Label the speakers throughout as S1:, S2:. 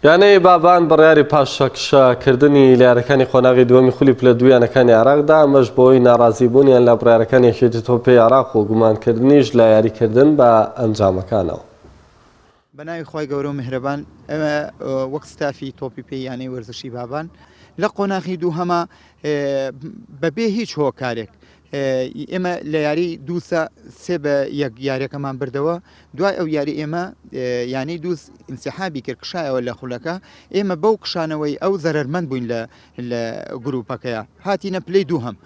S1: یانەی بابان بڕیاری پاشەکشە کردنی لەیارەکانی قۆناغی دووەمی خولی پلە دوو یانەکانی عێراق دا، ئەمەش بەهۆی ناڕازی بوونیان لە بڕیارەکانی یەکێتی تۆپی عێراق و گومان کردنیش لە یاری کردن بە ئەنجامەکانەوە.
S2: بەناوی خوای گەورە و میهرەبان ئێمە وەک ستافی تۆپی پێی یانەی وەرزشی بابان لە قۆناخی دووهەما بەبێ هیچ هۆکارێک ئێمە لە یاری دووسە سێ بە یەک یاریەکەمان بردەوە دوای ئەو یاری ئێمە یانەی دووس انسحابی کرد کشایەوە لە خولەکە ئێمە بەو کشانەوەی ئەو زەرمەند بووین لە لە گروپەکەیە هاتیینە پلەی دوو هەم.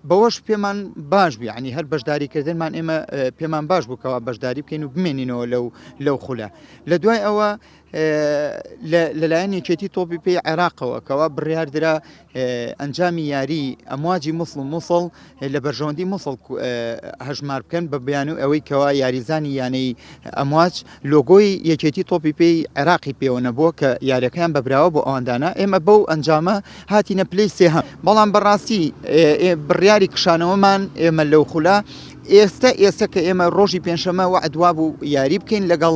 S2: بەوەش پێمان باش بوو ینی هەر بەشداریکردنمان ئێمە پێمان باش بووکەوە بەشداری بکەین و بمێنینەوە لەو لەو خولە لە دوای ئەوە لەلایەن یەکێتی تۆپی پێی عێراقەوە کەوا بڕیاردرا ئەنجامی یاری ئەمواجی مسڵ و مووسڵ لە بەرژەوەندی مووسڵ هەژمار بکەن بە بیان و ئەوەی کەوا یاریزانی یانەی ئەمواج لۆگۆی یەکێتی تۆپی پێی عێراقی پێوە نەبووە کە یاریەکەیان بەبراوە بۆ ئەواندانا ئێمە بەو ئەنجامە هاتیینە پلی سێه بەڵام بەڕاستی بڕیاری کشانەوەمان ئێمە لەو خولە ئێستا ئێستا کە ئێمە ڕۆژی پێنجشەمە وعدوا بوو یاری بکەین لەگەڵ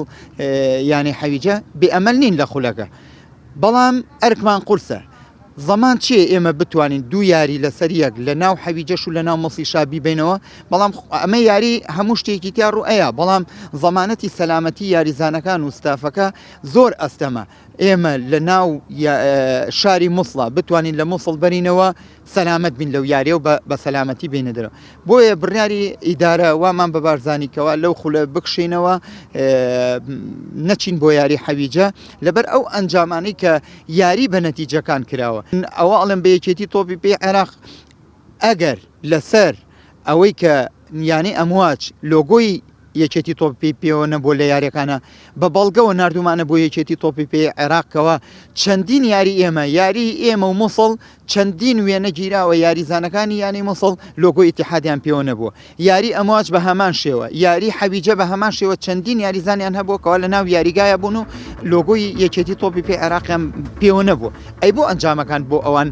S2: یانی حەویجە بێ ئەمەل نین لە خولەکە بەڵام ئەرکمان قورسە زەمان چیە ئێمە بتوانین دوو یاری لەسەر یەک لە ناو حەویجەش و لە ناو مەسی شابی بینەوە بەڵام ئەمە یاری هەموو شتێکی تیا ڕوئەیە بەڵام زەمانەتی سەلامەتی یاریزانەکان و ستافەکە زۆر ئەستەمە ئێمە لە ناو شاری موسڵا بتوانین لە موسڵ بەرینەوە سەلامەت بین لەو یاریە و بە سەلامەتی بینە دەرەوە بۆیە بڕیاری ئیدارە وامان بە بارزانانیکەوە لەو خولە بکشینەوە نەچین بۆ یاری حەویجە لەبەر ئەو ئەنجامانی کە یاری بە نەتیجەکان کراوە ئەوە ئەڵم بەیەکێتی تۆپی پێ عێراق ئەگەر لەسەر ئەوەی کە یانەی ئەمواج لۆگۆی یەکێتی تۆپی پێی پێوە نەبووە لە یاریەکانە بە بەڵگەوە ناردومانە بۆ یەکێتی تۆپی پێی عێراق کەوا چەندین یاری ئێمە یاری ئێمە و موسڵ چەندین وێنە گیراوە یاریزانەکانی یانەی موسڵ لۆگۆی ئیتیحادیان پێوە نەبووە یاری ئەمواج بە هەمان شێوە یاری حەویجە بە هەمان شێوە چەندین یاریزانیان هەبووە کەوا لە ناو یاریگایە بوون و لۆگۆی یەکێتی تۆپی پێی عێراقیان پێوە نەبووە ئەی بۆ ئەنجامەکان بۆ ئەوان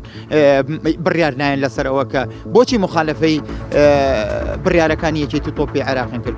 S2: بڕیار نایەن لەسەر ئەوە کە بۆچی مخالەفەی بڕیارەکانی یەکێتی تۆپی عێراقین کرد؟